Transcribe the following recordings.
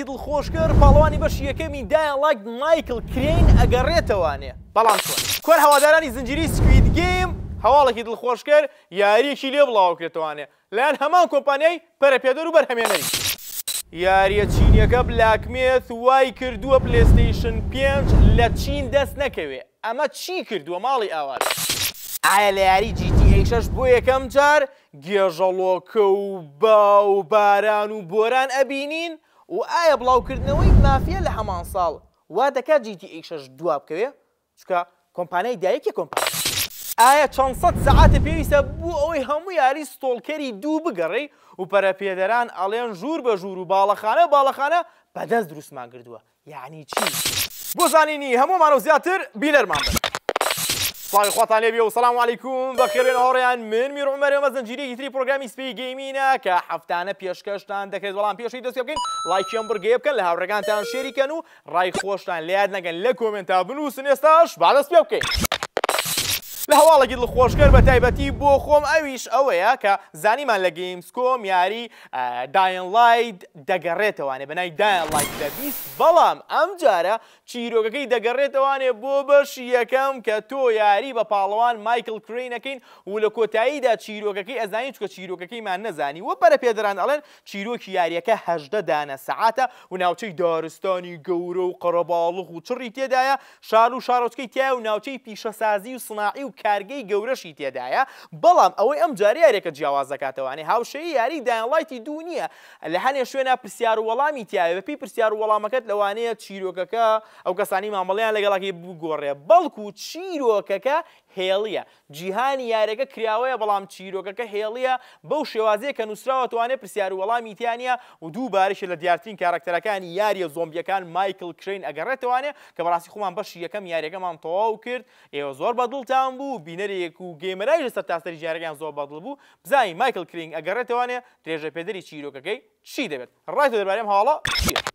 دڵخۆشکەر پاڵەوانی بەشی یەکەمی دایە ڵایک مایکڵ کرین ئەگەڕێتەوانێ بەڵام چۆن؟ کۆن هەوادارانی زنجیرەی سکوید گەیم هەواڵێکی دڵخۆشکەر یاریەکی لێ بڵاوکرێتەوانێ لەلایەن هەمان کۆمپانیای پەرەپێدەر و بەرهەمێنەری یاریە چینیەکە بلاک میث وای کردووە پلەیستەیشن پێنج لە چین دەست نەکەوێ ئەمە چی کردووە ماڵی ئاوات؟ ئایا لە یاری جی تی ئەی شەش بۆ یەکەم جار گێژەڵۆکە و با و باران و بۆران ئەبینین و ئایا بڵاوکردنەوەی مافیا لە هەمان ساڵ وا دەکات جی تی ئەی شەش دوا بکەوێ چونکە کۆمپانیای دایک یە کۆمپانیا. ئایا چەند سەد سەعاتە پێویستە بۆ ئەوەی هەموو یاری ستۆڵکەری دوو بگەڕێی و پەرەپێدەران ئەڵێن ژوور بە ژوور و باڵەخانە باڵەخانە بەدەست دروستمان کردووە یەعنی چی؟ بۆ زانینی هەموومانەو زیاتر بینەرمان بن. سڵاوی خواتان لێبێ و سەلام علیکم بەخێرێن هاوڕێیان من میر عومەر ئەمە زنجیرەیەکی تری پرۆگرامی سپی گەیمینە کە هەفتانە پێشکەشتان دەکرێت بەڵام پێشی دەست پێ بکەین لایکی ئەم بڕگەیە بکەن لە هاوڕێگانتان شێری کەن و ڕای خۆشتان لە یاد نەکەن لە کۆمێنتا بنووسن ئێستاش با دەست پێ بکەین لە هەواڵێکی دڵخۆشکەر بە تایبەتی بۆ خۆم ئەویش ئەوەیە کە زانیمان لە گەیمس کۆم یاری داین ڵاید دەگەڕێتەوانێ بەناوی داین ڵاید دە بیست بەڵام ئەم جارە چیرۆکەکەی دەگەڕێتەوانێ بۆ بەشی یەکەم کە تۆ یاری بە پاڵەوان مایکڵ کرەین ئەکەین و لە کۆتاییدا چیرۆکەکەی ئەزانین چونکە چیرۆکەکەیمان نەزانی وە پەرەپێدەران ئەڵێن چیرۆکی یاریەکە هەژدە دانە سەعاتە و ناوچەی دارستانی گەورە و قەرەباڵغ و چڕی تێدایە شار و شارۆچکەی تایە و ناوچەی پیشەسازی و سناعی و کارگەی گەورەشی تێدایە، بەڵام ئەوەی ئەمجارە یاریەکە جیاواز دەکاتەوانێ هاوشێی یاری دایان ڵایتی دوو نیە لە هەنێ شوێنا پرسیار و وەڵامی تیایە بەپێی پرسیار و وەڵامەکەت لەوانەیە چیرۆکەکە ئەو کەسانەی مامەڵەیان لەگەڵەکەی بگۆڕێ بەڵکو چیرۆکەکە هێڵیە جیهانی یارەکە کراوەیە بەڵام چیرۆکەکە هێڵیە بەو شێوازەیە کە نوسراوە توانێ پرسیارو وەڵامی تیا نیە و دووبارەشە لە دیارترین کاراکتەرەکانی یاریە زۆمبیەکان مایکل کرەین ئەگەڕێتەوانێ کە بەڕاستی خۆمان بەشی یەکەم یاریەکەمان تەواو کرد ئێوە زۆر بەدڵتان بوو بینەرێک و گەیمەرایش لە سەرتاسەری جیهانەکەیان زۆر بەدڵ بوو بزانین مایکل کرینگ ئەگەڕێتەوانێ درێژەپێدەری چیرۆکەکەی چی دەبێت. ڕای تۆ دەربارەی ئەم هەواڵە چییە؟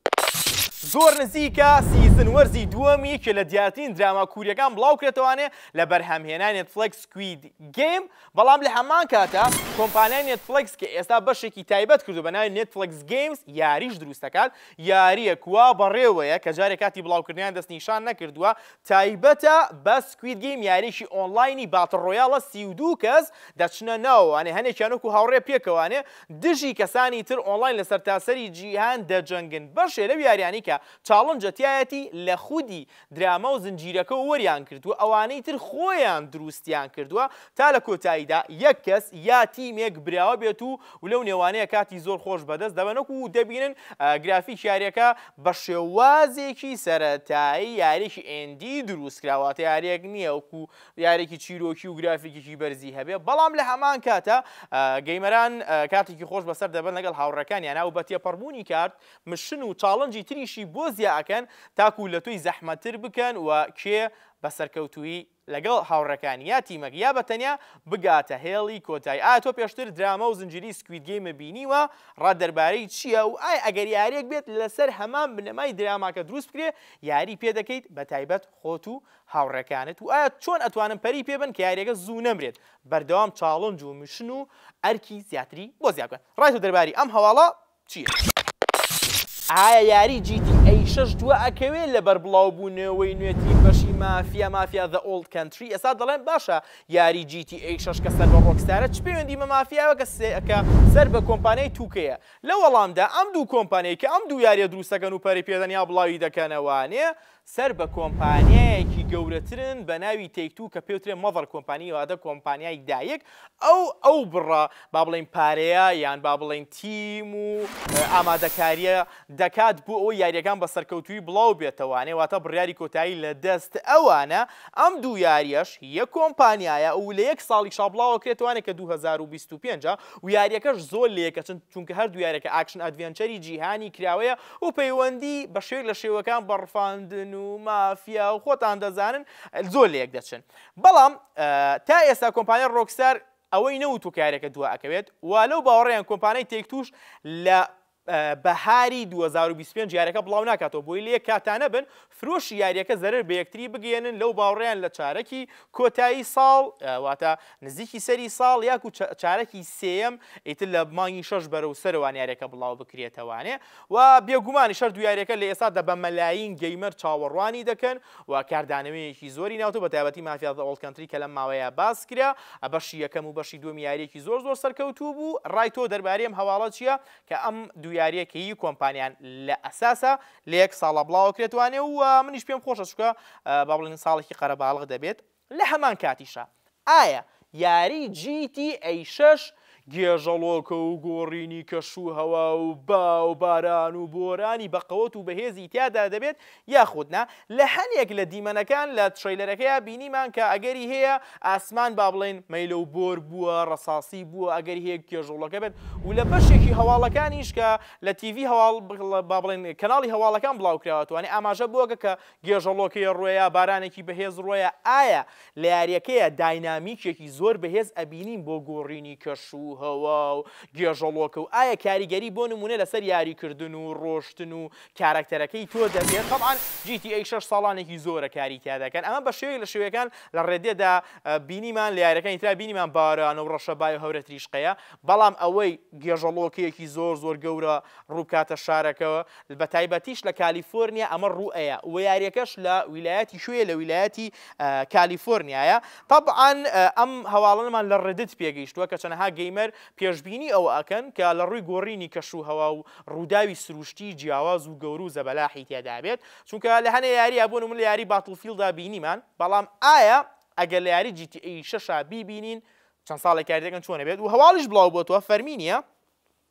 زۆر نزیکە سیزن وەرزی دووەم یەکێ لە دیارترین دراما کوریەکان بڵاو کرێتەوانێ لە بەرهەمهێنای نێتفڵێکس سکوید گەیم بەڵام لە هەمان کاتا کۆمپانیای نێتفڵێکس کە ئێستا بەشێکی تایبەت کردو بە ناوی نێتفڵێکس گەیمز یاریش دروست دەکات یاریەک وا بەڕێوەیە کە جارێ کاتی بڵاوکردنیان دەست نیشان نەکردووە تایبەتە بە سکوید گەیم یاریەکی ئۆنڵاینی باتڵ ڕۆیاڵە سی و دوو کەس دەچنە ناوەوانێ هەنێکیان وەکو هاوڕێ پێکەوانێ دژی کەسانی تر ئۆنڵاین لە سەرتاسەری جیهان دەجەنگن، بەشێ لەو یاریانەی کە چاڵنجە تیایەتی لە خودی دراما و زنجیرەکەوە وەریان گرتووە، ئەوانەی تر خۆیان دروستیان کردووە تا لە کۆتاییدا یەک کەس یا تیمێک براوە بێت و و لەو نێوانەیە کاتی زۆر خۆش بەدەست دەبەنک و دەبینن گرافیکی یاریەکە بە شێوازێکی سەرەتایی یاریەکی ئێندی دروست کراوە واتە یاریەک نیە وەکو دیارێکی چیرۆکی و گرافیکیکی بەرزی هەبێ بەڵام لە هەمان کاتە گەیمەران کاتێکی خۆش بەسەر دەبن لەگەڵ هاوڕەکان یانا و بە تێپەڕبوونی کارت مشن و چاڵنجی تریشی بۆ زیاکەن تاکو لە تۆی زەحمەتر بکەن و کێ بە سەرکەوتویی لەگەڵ هاوڕەکان یا تیمەک یا بە تەنیا بگاتە هێڵی کۆتای ئا تۆ پێشتر دراما و زنجیری سکوید گەیمە بینیوە ڕا دەربارەی چییە و ئای ئەگەر یاریەک بێت لەسەر هەمان بنەمای دراماکە دروست بکرێ یاری پێ دەکەیت بە تایبەت خۆت و هاوڕێکانت و ئایا چۆن ئەتوانن پەری پێ بەن کە یاریەکە زوو نەمرێت بەردەوام چاڵنج و میشن و ئەرکی زیاتری بۆ زیا بکەن ڕای تۆ دەرباری ئەم هەواڵە چیە؟ ئایا یاری جی تی ئەی شەش دوا ئەکەوێ لەبەر بڵاو بونەوەی نوێترین بەشی مافیا مافیا ذە ئۆڵد کەنتری ئێستا دەڵێن باشە یاری جی تی ئەی شەش کە سەر بە ڕۆکستارە چ پەیوەندی بە مافیاوە کە سێ کە سەر بە کۆمپانیای توکەیە لە وەڵامدا ئەم دوو کۆمپانیای کە ئەم دوو یاریە دروست دەکەن و پەری پێدەن یا بڵاوی دەکەنەوە نێ سەر بە کۆمپانیایەکی گەورەترن بە ناوی تەیک توو کە پێوترێ مەزەر کۆمپانی واتە کۆمپانیای دایک ئەو ئەو بڕە با بڵێین پارەیە یان با بڵێین تیم و ئامادەکاریە دەکات بۆ ئەوەی یاریەکان بە سەرکەوتووی بڵاو بێتەوانێ واتە بڕیاری کۆتایی لە دەست ئەوانە ئەم دوو یاریەش یەک کۆمپانیایە و لە یەک ساڵیشا بڵاوە کرێتوانێ کە دوو هەزار و بیست و پێنج ویاریەکەش زۆر لێکەچن چونکە هەردوو یارەکە ئاکشن ئەدڤێنچەری جیهانی کراوەیە و پەیوەندی بە شێوەیەک لە شێوەکان بە ڕفاندن و مافیا و خۆتان دەزانن زۆر لە یەک دەچن بەڵام تا ئێستا کۆمپانیای ڕۆکستار ئەوەی نەوتوە کارێکە دوا ئەکەوێت و لەو باوەڕیان کۆمپانیای تێک توش لە بەهاری 2025 یارەکە بڵاو ناکاتەوە بۆی لێ کاتانە بن فرۆشی یاریەکە زەرەر بە یەکتری بگەیەنن لەو باوڕیان لە چارەکی کۆتایی ساڵ واتە نزیکی سەری ساڵ یاکو چارەکی سێیەم ئیتر لە مانگی شەش بەرەو سەرەوان یاریەکە بڵاو بکرێتەوانێ و بێگومانیش هەردوو یاریەکە لە ئێستادا بە مەلایین گەیمەر چاوەڕوانی دەکەن و کاردانەوەیەکی زۆری ناوتۆ بە تایبەتی مافیا زە ئۆڵد کەنتری کە لەم ماوەیە باس کرا بەشی یەکەم و بەشی دووەمی یاریەکی زۆر زۆر سەرکەوتوو بوو ڕای تۆ دەربارەی ئەم هەواڵە چییە کە ئەم دوو یاریەکەی کۆمپانیان لە ئەساسا لە یەک ساڵا بڵاوەکرێت وانە و منیش پێم خۆشە چونکە با بڵێن ساڵێکی قەرەباڵغ دەبێت. لە هەمان کاتیشا ئایا یاری جی تی ئەی شەش گێژەڵۆکە و گۆڕینی کەش و هەوا و با و باران و بۆرانی بەقەوەت و بەهێزی تیادا دەبێت یاخود نا؟ لە هەنێک لە دیمەنەکان لە ترەیلەرەکەیا بینیمان کە ئەگەری هەیە ئاسمان با بڵێن مەیلە و بۆر بووە، ڕەساسی بووە، ئەگەری هەیە گێژەڵۆکە بێت و لە بەشێکی هەواڵەکانیش کە لە تیڤی هەواڵ با بڵێن کەناڵی هەواڵەکان بڵاوکراوەتەوە یانێ ئاماژە بەوەکە کە گێژەڵۆکەیە ڕۆیە بارانێکی بەهێز ڕۆیە ئایا لە یاریەکەیە داینامیکێکی زۆر بەهێز ئەبینین بۆ گۆڕینی کەش و هەوا و گێژەڵۆکە و ئایا کاریگەری بۆ نمونە لەسەر یاریکردن و ڕۆشتن و کارەکتەرەکەی تۆ دەبێت تەبعەن جی تی ئەی شەش ساڵانێکی زۆرە کاری تیا دەکەن ئەمە بە شێوەیەک لە شێوەکان لە ڕێدێدا بینیمان لە یاریەکانی ترا بینیمان باران و ڕەشەبای و هەورە تریشقەیە بەڵام ئەوەی گێژەڵۆکەیەکی زۆر زۆر گەورە ڕووبکاتە شارەکە بە تایبەتیش لە کالیفۆرنیا ئەمە ڕووئەیا وە یاریەکەش لە ویلایەتی کوێیە لە ویلایەتی کالیفۆرنیایە تەبعەن ئەم هەواڵەنمان لە ڕدت پێگەیشتووە کە چەنەها گەیمەر پێشبینی ئەوە ئەکەن کە لە ڕووی گۆڕینی کەش و هەوا و ڕووداوی سروشتی جیاواز و گەورو زەبەلاحی تێدابێت چونکە لە هەنێ یاریە بۆ نمونە لە یاری باتڵفیڵدا بینیمان بەڵام ئایا ئەگەر لە یاری جی تی ئەی شەشا بیبینین چەند ساڵێکە یاریەکەن چۆنە بێت و هەواڵیش بڵاو بۆتەوە فەرمی نییە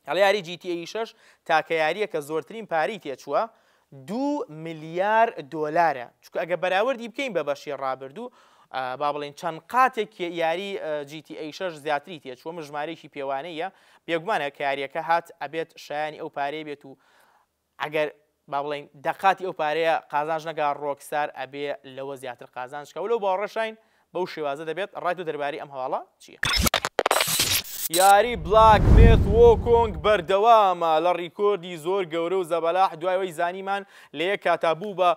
ئەڵێ یاری جی تی ای شەش تاکە یاریە کە زۆرترین پارەی تێچووە دو ملیار دۆلارە چکە ئەگە بەراوردی بکەین بە بەشی ڕابردوو با بڵین چەند قاتێک یاری جی تی ای شەش زیاتری تێچووە مژمارێکی پێوانەیە بێگومانە کاریەکە هات ئەبێت شایانی ئەو پارەی بێت و ئەگەر با بڵێین دەقاتی ئەو پارەیە قازانج نەکا ڕۆکستار ئەبێ لەوە زیاتر قازانج کا و لەو باوەڕەشاین بەو شێوازە دەبێت ڕای تۆ دەربارەی ئەم هەواڵە چیە؟ یاری بلاک میث وۆکۆنگ بەردەوامە لە ڕیکۆردی زۆر گەورە و زەبەلاح دوای ئەوەی زانیمان لە یەک کاتا بوو بە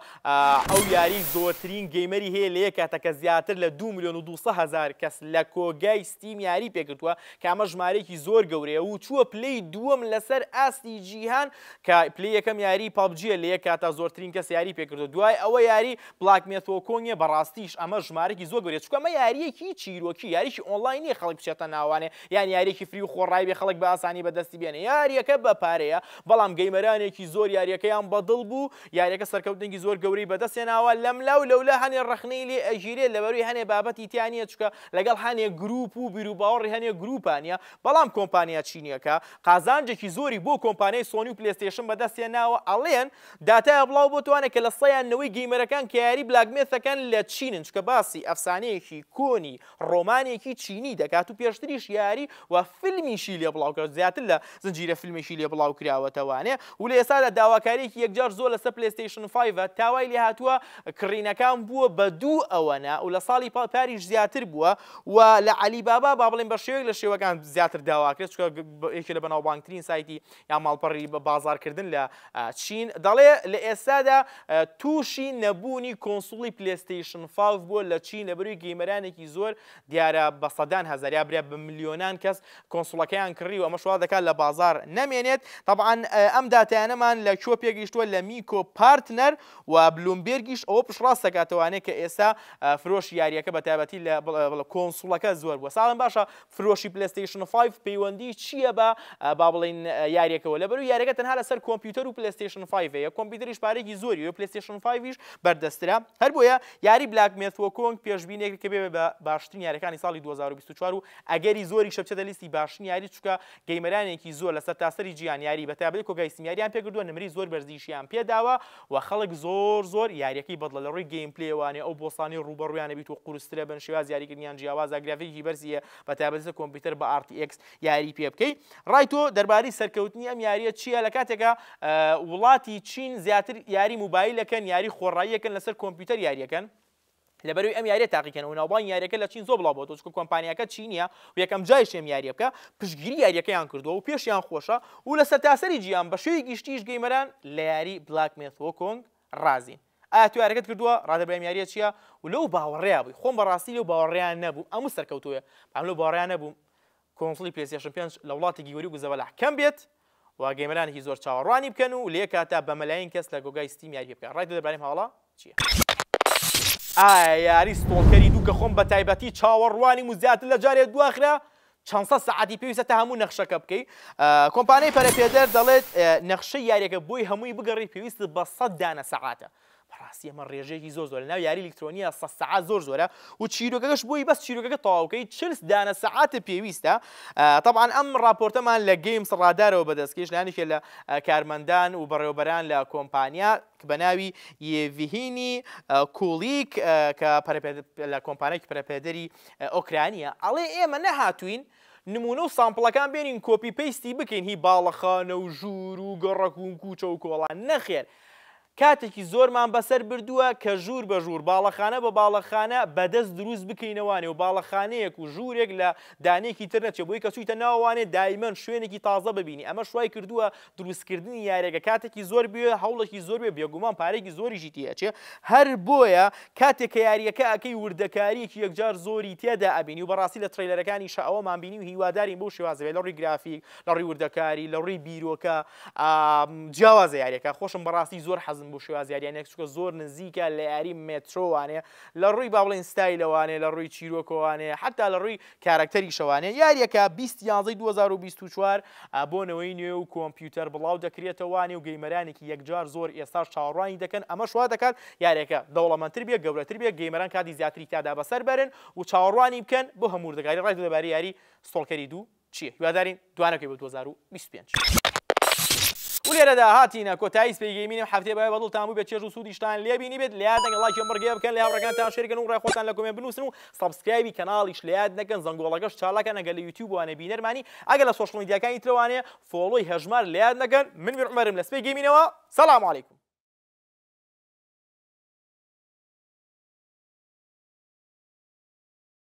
ئەو یاری زۆرترین گەیمەری هەیە لە یەک کاتەکە زیاتر لە دوو ملیۆن و دوو سەد هەزار کەس لە کۆگای ستیم یاری پێکردووە کە ئەمە ژمارەیەکی زۆر گەورەیە و چووە پلەی دووەم لەسەر ئاستی جیهان، کە پلەی یەکەم یاریی پەبجییە لە یەک کاتا زۆرترین کەس یاریی پێ کردووە، دوای ئەوە یاریی بلاک مێث وۆکۆنگ ە، بەڕاستیش ئەمە ژمارەیەکی زۆر گەورەیە، چونکە ئەمە یارییەکی چیرۆکی، یارییەکی ئۆنڵاین نییە خەڵک بچێتە ناوانێ، یان یارییەکی فری و خۆڕای بێ خەڵک بە ئاسانی بەدەستی بێنێ، یارییەکە بە پارەیە، بەڵام گەیمەرانێکی زۆر یارییەکەیان بە دڵ بوو، یارییەکە سەرکەوتنێکی زۆر گەورەی بەدەست هێناوە، لەملا و لەولا هەنێ ڕەخنەی لێ ئەگیرێ لەبەروی هەنێ بابەتی تیا نییە، چونکە لەگەڵ هەنێک گرووپ و بیروباوەڕی هەنێک گرووپا نییە، بەڵام کۆمپانیا چینییەکە قازانجێکی زۆری بۆ کۆمپانیای سۆنی و پلەیستەیشن بەدەستهێناوە، ئەڵێن داتایە بڵاوبۆتوانە کە لە سەیان نەوەی گەیمەرەکان کە یاری بلاک مێث دەکەن لە چینن چکە باسی ئەفسانەیەکی کۆنی ڕۆمانێکی چینی دەکات و پێشتریش یاری و فیلمیشی لێ بڵاوکراوە زیاتر لە زنجیرە فیلمێکی لێ بڵاوکراوەتەوە و لە ئێستادا داواکاریەکی یەکجار زۆر لەسەر پلەیستەیشن فایڤە تا وای لێ هاتووە کڕینەکان بووە بە دوو ئەوەنە و لە ساڵی پاریش زیاتر بووە و لە عەلی بابا با بڵێین بە شێوەیەک لە شێوەکان زیاتر داواکرێت چونکە یەکێ لە بەناوبانگترین سایتی یا ماڵپەڕی بە بازاڕکردن لە چین دەڵێ لە ئێستادا تووشی نەبوونی کۆنسوڵی پلەیستەیشن فایڤ بووە لە چین لەبەروی گەیمەرانێکی زۆر دیارە بە سەدان هەزار یا برێ بە ملیۆنان کەس کۆنسوڵەکەیان کڕی و ئەمەش وا دەکات لە بازاڕ نەمێنێت. تەبعەن ئەم داتایانەمان لە کوێ پێگەیشتووە؟ لە میکۆ پارتنەر و بلومبێرگیش ئەوە پشتڕاست دەکات ئەوانەیە کە ئێستا فرۆشی یارییەکە بە تایبەتی لە کۆنسوڵەکە زۆر بووە. ساڵم باشە فرۆشی پلەستەیشن فایڤ پەیوەندی چییە بە با بڵێین یاریەکەوە لەبەرو یاریەکە تەنها لەسەر کۆمپیوتەر و پلەستەیشن فایڤەیە کۆمپیوتەریش پارێکی زۆری وە پلەستەیشن فایڤیش بەردەسترە هەر بۆیە یاری بلاک میث وکۆنگ پێشبینێکە کە بێ بە باشترین یاریەکانی ساڵی دوو هەزار و بیست و چوار و ئەگەری زۆریشە بچێتە لیستی باشترین یاری چونکە گەیمەرانێکی زۆر لە سەرتاسەری جیهان یاری بە تایبەتی کۆگای ستیم یاریان پێکردووە نمری زۆر بەرزیشیان پێداوە و خەڵک زۆر زۆر یاریەکەی بەدڵە لە ڕووی گەیم پلەیەوانێ ئەو بۆسانەی ڕووبەڕوویانە بیت و قورسترە بن شێوازی یاریکردنیان جیاوازە گرافیکی بەرزی هەیە بە تایبەتی لە کۆمپیوتەر بە ئاڕ تی ئێکس یاری پێ بکەی ڕای تۆ دەربارەی سەرکەوتنی ئەم یاریە چییە لە کاتێکا وڵاتی چین زیاتر یاری موبایلەکەن یاری خۆڕاییەکەن لەسەر کۆمپیوتەر یاریەکەن لەبەروی ئەم یاریە تاقیکەن و ناوبان یاریەکە لە چین زۆ بڵاو بۆ تۆچکە کۆمپانیەکە چینە و یەکەم جایش ئەم یاریە بکە پشگیری یاریەکەیان کردووە و پێشیان خۆشە و لە سەرتاسەری جیان بە شێوی گشتیش گەیمەران لە یاری بلاک مێثۆکۆنگ ڕازین ئایا تۆ یاریەکەت کردووە؟ ڕادەبرام یاریە چیە؟ و لەو باوەڕەیا بووی خۆم بەڕاستی لەو باوەڕەیا نەبووم ئەموو سەرکەوتووێ بەام لەو باوەڕەیا نەبووم کۆنسڵی پلەیستێشن پێنج لە وڵاتی گیوری و گوزەبەلاح کەم بێت و گەیمەرانێکی زۆر چاوەڕوانی بکەن و لەیەککاتدا بە مەلایین کەس لە گۆگای ستیم یاری پێ بکەن ڕای تۆ دەربارەی ئەم هەواڵە چیە؟ ئایا یاری ستۆڵکەری دوو کە خۆم بەتایبەتی چاوەڕوانیم و زیاتر لە جارێ دواخرا چەند سەد سەعاتی پێویستە تا هەموو نەخشەکە بکەی کۆمپانیای پەرەپێدەر دەڵێت نەخشەی یاریەکە بۆی هەمووی بگەڕی پێویست بە سەد دانە سەعاتە بەڕاستی ئەمە ڕێژەیەکی زۆر زۆر لەناو یاری ئەلکترۆنیە سە سەعات زۆر زۆرە و چیرۆکەکەش بۆی بەس چیرۆکەکە تەواوکەی چلس دانە سەعاتە پێویستە طبعاان ئەم ڕاپۆرتەمان لە گەیمس ڕادارەوە بەدەستکەش لانیکە لە کارمەندان و بەڕێوبەران لە کۆمپانیا بە ناوی یڤهینی کوڵیک کە لە کۆمپانێکی پرەپێدەری ئۆکرانیا ئەڵێ ئێمە نەهاتووین نموونە و سامپڵەکان بێنین کۆپی پەیستی بکەین هی باڵەخانە و ژوور و گەڕەک و کوچە و کۆڵان نەخێر کاتێکی زۆرمان بەسەر بردووە کە ژوور بە ژوور باڵەخانە بە باڵەخانە بەدەست دروست بکەینەوانێ و باڵەخانەیەک و ژوورێک لە دانێکی تر نەچێ بۆی کە چوویتە ناوەوانێ دایمەن شوێنێکی تازە ببینی ئەمەش وای کردووە دروستکردنی یاریەکە کاتێکی زۆر بوێ هەوڵێکی زۆر بێ بێگومان پارێکی زۆریشی تێچێ هەر بۆیە کاتێک کە یاریەکە ئەەکەی وردەکاریەکی یەکجار زۆری تێدا ئەبینی و بەڕاستی لە ترەیلەرەکانی شەوەمان بینی و هیوادارین بۆ شێوازێ لە ڕووی گرافیک لە ڕووی وردەکاری لە ڕووی بیرۆکە جیاوازە یاریەکە خۆشم بەڕاستی زۆر حەزم بۆ شێواز یاریانێک چکە زۆر نزیکە لە یاری مێترۆوانێ لە ڕووی باڵێن ستایلەوانێ لە ڕووی چیرۆکۆوانێ حتا لە ڕووی کارەکتەری شەوانە یاریەکە بیست یانزەی دوو هەزار و بیست و چوار ە بۆ نەوەی نوێ و کۆمپیوتەر بڵاو دەکرێتەوە نێو گەیمەرانێکی یەکجار زۆر ئێستاش چاوەڕوانی دەکەن ئەمەش وا دەکات یاریەکە دەوڵەمەندتر بێت گەورەتر بێت گەیمەران کاتی زیاتری تیادا بەسەر بەرن و چاوەڕوانی بکەن بۆ هەموو وردەکاری ڕای تۆ دەبارەی یاری ستۆڵکەری دوو چیە؟ هیوادارین دوانەکەی بۆ دوو هەزار و بیست و پێنج. و لێرەدا هاتینە کۆتایی سپی گەیمین ئەم هەفتەیە بەهیوای بەدڵتان بووبێت چێژ و سوودیشتان لێ بینیبێت لەیاد نەکەن ڵایکی ئەم بڕگەیە بکەن لە هاوڕێکانتان شێر کەن و ڕای خۆتان لە کۆمێنت بنووسن و سەبسکرایبی کەناڵیش لەیاد نەکەن زەنگۆڵەکەش چاڵە کەن ئەگەر لە یوتیوب وانە بینەرمانی ئەگەر لە سۆشڵ میدیاکانی ترە وانە فۆڵۆی هەژمار لەیاد نەکەن من میر عومەرم لە سپی گەیمینەوە سەلام علیکم.